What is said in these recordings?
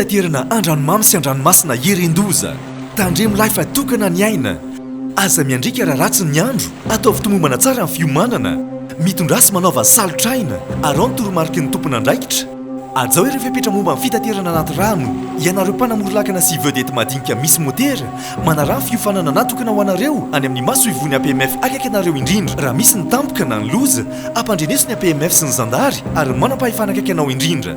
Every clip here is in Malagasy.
Fitaterana andranomamy sy andranomasina irin-doza. Tandremo lahy fa tokana ny aina. Aza miandriaka raha ratsy ny andro. Ataovy tomombana tsara ny fiomanana. Mitondrasy manaova salotr'aina. Arao ny toromariky ny tompon'andraikitra. Hajao ireo fepetra momba ny fitaterana anaty rano, ianareo mpanamory lakana sy vedety madinika misy motera, manaraha fiofanana natokana ho anareo any amin'ny masoivohon'ny APMF akaiky anareo indrindra raha misy ny tampoka na ny loza, ampandreneso ny APMF sy ny zandary ary ny manam-pahefana akaiky anao indrindra.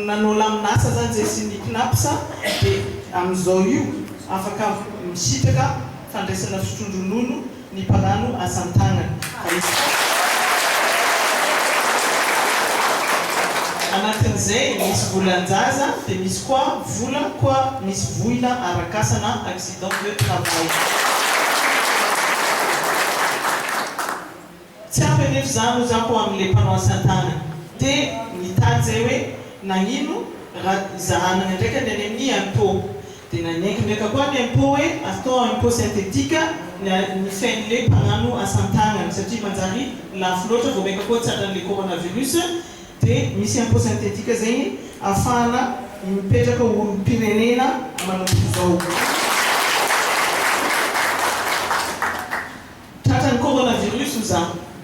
Nanao laminasa zany zay sy ny cnaps de amin'izao io afaka misitraka fandraisana fitrondronono ny mpanano asantagnana fa izy koa anatin'izay misy volanjaza de misy koa vola koa misy voina arakasa na accident de travail. Tsy ampy anefa izany hoy za ko amin'ilay mpanao asan-tanana dia nitady zay hoe nagnino ra zahanagna ndraika ny any amin'ny impôt dia nanenky ndraika koa ny impôt hoe atao impôt synthétique ny ny fen'ilay mpagnano asan-tagnana satria manjary lafo loatra vao maika koa tratran'ilay coronavirus dia misy impôt synthétique zegny afahana mipetraka olom-pirenena manomboka izao. Tratran'ny coronavirus hoy za.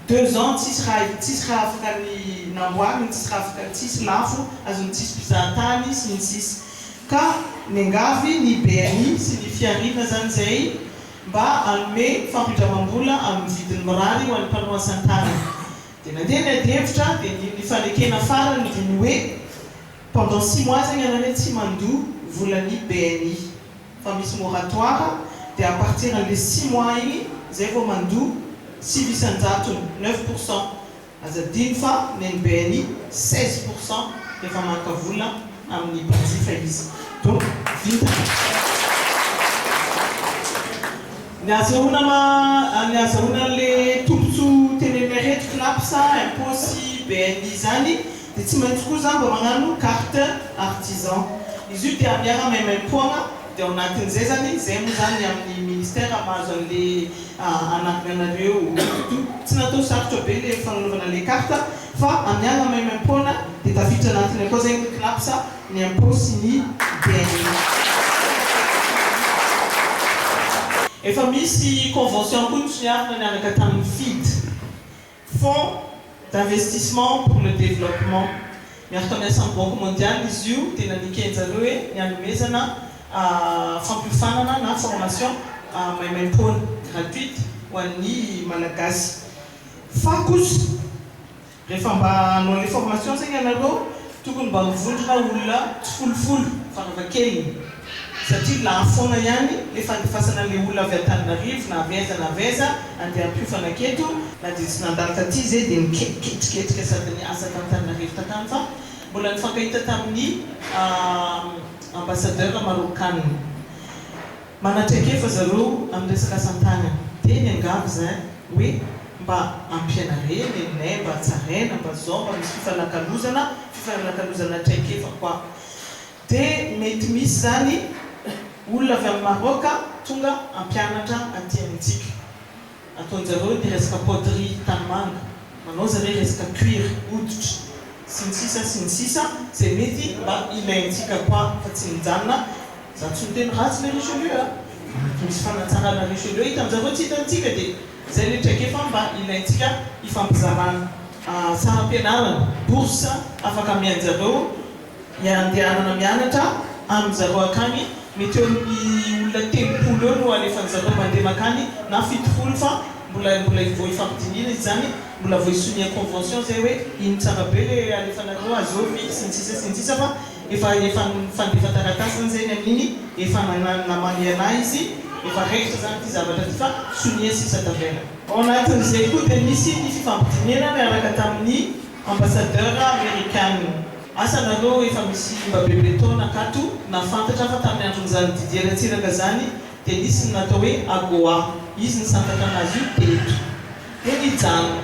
Deux ans tsisy raha tsisy raha afaka ny namboarina, tsisy raha afaka tsisy lafo azon'ny tsisy mpizahantany sy ny sisa. Ka miangavy ny BNI sy ny fihariana zany zay mba hanome fampindramam-bola amin'ny vidiny mirary ho an'ny mpanao asan-tanana. Dia nandeha ny adihevitra dia ny nifanekena farany dia ny hoe pendant six mois zegny anareo tsy mandoa volan'ny BNI. fa misy moratoire dia à partir an'le six mois iny zay vao mandoa sivy isan-jatony, neuf pour cent, aza adino fa nen'ny BNI seize pour cent rehefa maka vola amin'ny mpanjifa izy donc vintana ny ahazahoana an'le tombotsoa teneninay reto, Cnaps, impot sy BNI zany. Dia tsy maintsy koa za mba magnano carte artisan. Izy io dia miara maimaimpoagna dia ao anatin zay zany, zay moa zany ny amin'ny ministère mahazo anle anagnanareo io. Tsy natao sarotra be le fagnanaovana le carte fa miara maimaimpoana dia tafiditra anatiny akao zay ny CNAPS, ny impôt sy ny DNI. Efa misy convention koa nosiarina niaraka tamin'ny FIDE. Fonds d'investissement pour le développement, miaraka amin'ny asan'ny Banque mondiale izy io, dia nanekeny zareo hoe ny hanomezana fampiofanana na formation maimaimpoana, gratuite, ho an'ny Malagasy. Fa kosa, rehefa mba hanao ilay formation zegny ianareo, Tokony mba ho vondrona olona tsy folofoly fa raha kely satria lafo foana ihany le fandefasana le olona avy Antananarivo na avy aiza na avy aiza andeha hampiofana aketo, na dia tsy nandalo taty ze dia miketriketrika sady niasa t'Antananarivo takany fa mbola nifankahita tamin'ny ambassadeur Marocanne. Manatraikefa zareo amin'ny resaka asa an-tanana. Dia ny angavy izay hoe mba ampianarena e ney, mba tsaraina, mba izao, mba misy fifanakalozana, fifanakalozana traikefa quoi. Dia mety misy izany olona avy any Maroc tonga hampianatra aty amintsika. ataonjareo de resaka poterie tanimanga manao zare resaka cuir hoditra sy ny sisa sy ny sisa zay mety mba ilaintsika koa fa tsy mijanona za tsy miteny ratsy le richelieu a fa misy fanatsarana richelieu hitanjareo tsy hitantsika de zay le traikefa mba ilaintsika hifampizarana saram-pianarana bourse afaka amianjareo Ny andehanana mianatra amin zareo akany mety eo amin ny olona telopolo eo no alefan zareo mandeha makany na fitopolo fa mbola mbola vao ifampidinihina izy zany mbola vao isonia convention zay hoe ino tsara be le alefanareo azy eo vy sy ny sisa sy ny sisa fa efa efa fandefa taratasy zany zay ny amin iny efa nana namany anah izy efa raikitra zany ty zavatra ty fa sonia sisa tavela. Ao anatin izay koa dia nisy ny fifampidinihana niaraka tamin ny. Ambassadeur Amerikana. Asa nareo efa misy mba bebe taona akato na fantatra fa tamin'ny andron'izany Didier Ratsiraka zany dia nisy ny natao hoe Agoa izy nisantatra anazy io teto dia nijanona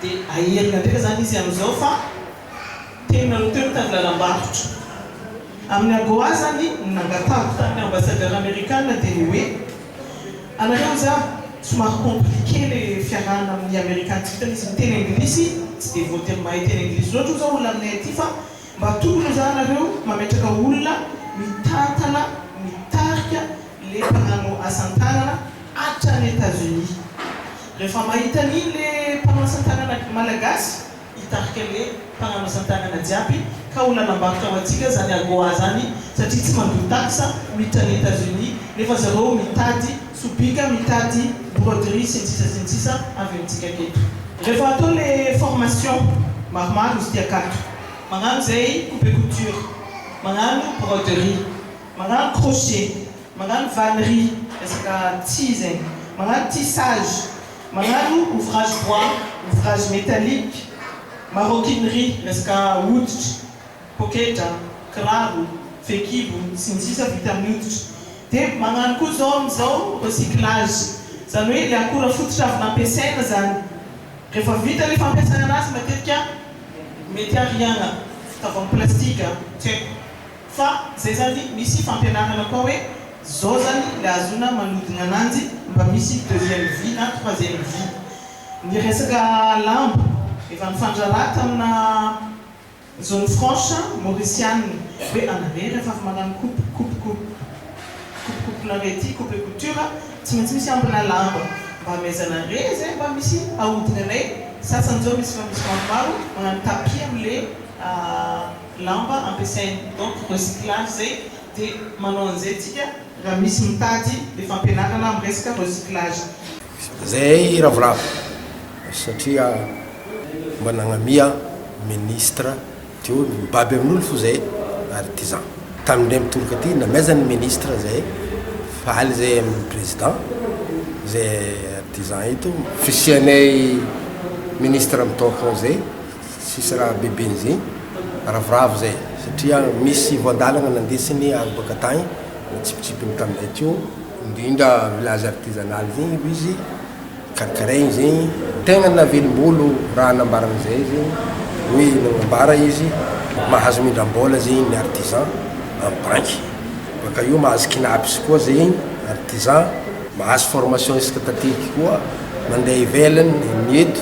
dia aherina ndraika zany izy amin'izao fa teo nareo teo nitady lalam-barotra amin'ny Agoa zany ny nangatahako tamin'ny Ambassadeur Amerikana dia ny hoe Anareo anzah somary compliqué le fiarahana amin'ny Amerikana tsy vitan'izy miteny anglisy tsy dia voatery mahay teny anglisy loatra hoy zao olona aminay aty fa mba tokony anzah anareo mametraka olona mitantana mitarika le mpanano asantanana hatrany Etats Unis rehefa mahita an'iny le mpanao asantanana malagasy hitarika ny hoe mpanamasan-tanana jiaby ka ho nanambarotra ho antsika zany AGOA zany satria tsy mandoa tax miditra any Etats Unis nefa zareo mitady sobika mitady broderie sy ny sisa sy ny sisa avy amintsika aketo. Rehefa atao le formation maromaro izy ty akato magnano zay coupe couture magnano broderie magnano crochet magnano vannerie resaka tsihy zegny magnano tissage Manano ouvrage bois, ouvrage metallique, maroquinerie, resaka hoditra, poketra, kiraro, fehikibo, sy ny sisa vita amin'ny hoditra. Dia magnano koa zao amin'izao recyclage, izany hoe ilay akora fototra avy nampiasaina izany, rehefa vita ny fampiasana anazy matetika mety ariagna, tavoahangy plastika, tsy haiko. Fa zay zany misy fampianarana koa hoe zao zany le azona manodina ananjy mba misy deuxième vie na troisième vie. Ny resaka lambo efa nifandraraha tamina zone franche mauricianina hoe anaré rehefa avy magnano coupe coupe coupe coupe coupe nareo ity coupe et couture tsy maintsy misy ambina lamba mba amezana re zay mba misy ahodinanay sasany zao misy fa misy maromaro magnano tapis amle lamba ampiasainy donc recyclage zay de manao an'izay tsika raha misy mitady le fampianarana am resaka recyclage. Zay ravoravo satria mba nagnamia ministre teo ny mibaby amin'olo fo zay ary ty zan tany ndray mitoroka ty namezany ministre zay faly zay aminy president zay ary ty zan ito fisianay ministre mitaofao zay Tsisy raha beben'izay ravoravo zay satria misy voandalana nandeha siny any boaka tagny natsipitsipiny tamizay teo. Indrindra village artisanal zegny hoy izy karakaraigny zegny. Tegna navelombolo raha nambarany zay zegny hoe nagnambara izy mahazo mindram-bola zegny ny artisan am banky baka eo mahazo kinaps koa zegny artisan mahazo formation isaka taty koa mandeha ivelany ny eto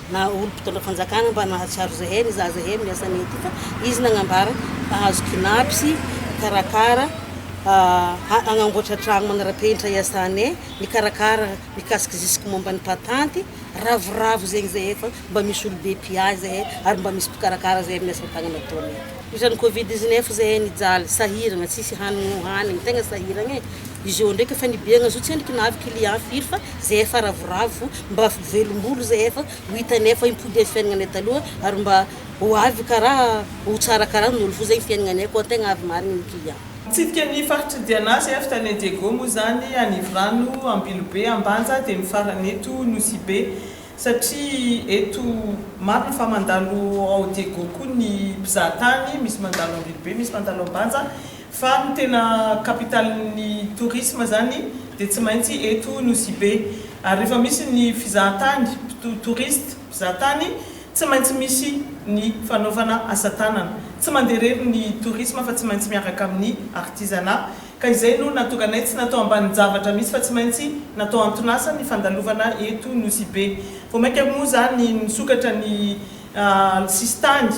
Na olo mpitondra fanjakana mba nahatsiaro zahay ny zaza heno ny asany ety ka izy nagnambara fa azo kinapy sy karakara ha agnamboatra tragno manarapenitra iasanay mikarakara mikasika zisky momba ny patanty ravoravo zegny zahay fa mba misy olo be mpiahy zahay ary mba misy mpikarakara zahay amin asatagnana ataonay. Izany covid dix-neuf izay hay nijaly, sahiragna tsisy hanigny hohanigny, tegna sahiragna e! Izy ô ndraiky efa nibeagna zao tsy endriky nahavy client firy fa zay efa ravoravo fô mba velombolo zay efa ho hitany efa impodiagny fiainagnanay taloha ary mba ho avy karaha ho tsara karaha ny olo fô zay ny fiainagnanay koa tegna avy marigny ny client. Mitsidika ny faritry Diana sy Eft any Diego moa izany, Anivorano, Ambilobe, Ambanja dia ny farany eto Nosy Be. satria eto maro ny fa mandalo ao Diego koa ny mpizaha tany, misy mandalo Ambilobe, misy mandalo Ambanja, fa ny tena kapitalin'ny tourisme zany dia tsy maintsy eto Nosibe, ary rehefa misy ny fizaha tany, touristes, mpizaha tany, tsy maintsy misy ny fanaovana asa tanana, tsy mandeha irery ny tourisme fa tsy maintsy miaraka amin'ny artisanat, Ka izay no nahatonga anay tsy natao ambanin-javatra mihitsy fa tsy maintsy natao anton'asa ny fandalovana eto Nosy-Be. Vao mainka moa izany nisokatra ny sisintany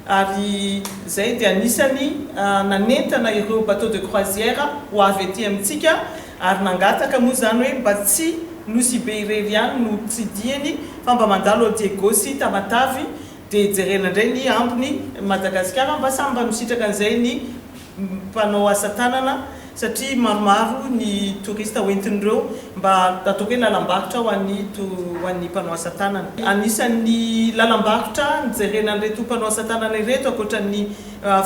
ary izay dia anisany nanentana ireo bateaux de croisière ho avy ety amintsika ary nangataka moa izany hoe mba tsy Nosy-Be irery ihany no tsidihiny fa mba mandalo ao Diego sy Tamatave Dia jerena indray ny ambiny Madagasikara mba samy mba misitraka an'izay ny mpanao asa tanana satria maromaro ny touriste hoentin'ireo mba ataoko hoe lalam-barotra ho an'ny ho an'ny mpanao asa tanana. Anisan'ny lalam-barotra jerena an'ireto mpanao asa tanana ireto ankoatran'ny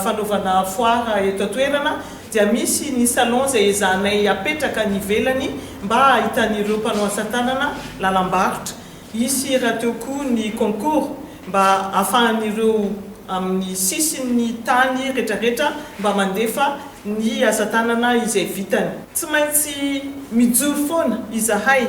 fanaovana foire eto an-toerana dia misy ny salon izay ezahanay apetraka any ivelany mba ahitan'ireo mpanao asa tanana lalam-barotra Hisy rahateo koa ny concours mba afahan'ireo amin'ny sisin'ny tany retraretra mba mandefa ny asa tanana izay vitany. Tsy maintsy mijoro foana izahay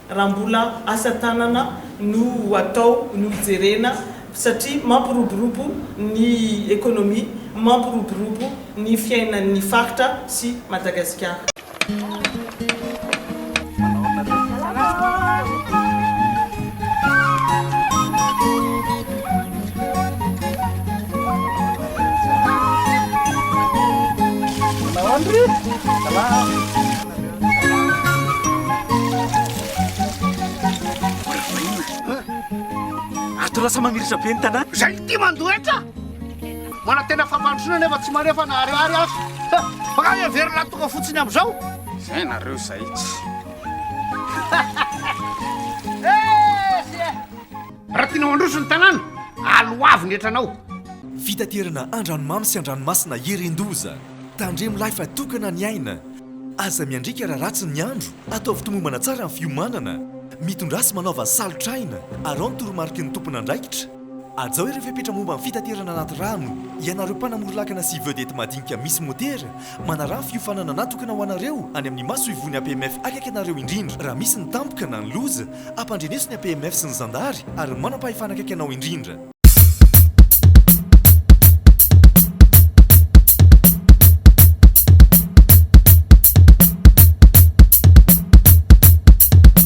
raha mbola asa tanana no atao no jerena satria mampiroborobo ny economie, mampiroborobo ny fiainan'ny faritra sy Madagasikara. Ato lasa mamirisa be ny tanàna. Izay tia mandoa hetra. Manantena fampandrosoana nefa tsy maneho fa na ariary aza. Makany heverina ny tonga fotsiny amin'izao. Izay nareo izay tsy. Raha tianao handroso ny tanàna, aloavy ny hetranao. Fitaterana andranomamy sy andranomasina heren-doza. Tandremo lahy fa tokana ny aina. Aza miandriaka raha ratsy ny andro. Ataovy tomombana tsara ny fiomanana. Mitondrasy manaova salotr'aina. Araho ny toromariky ny tompon'andraikitra. Hajao ireo fepetra momba ny fitaterana anaty rano, ianareo mpanamory lakana sy vedety madinika misy motera, manaraha ny fiofanana natokana ho anareo any amin'ny masoivohon'ny APMF akaiky anareo indrindra raha misy ny tampoka na ny loza, ampandreneso ny APMF sy ny zandary ary ny manam-pahefana akaiky anao indrindra.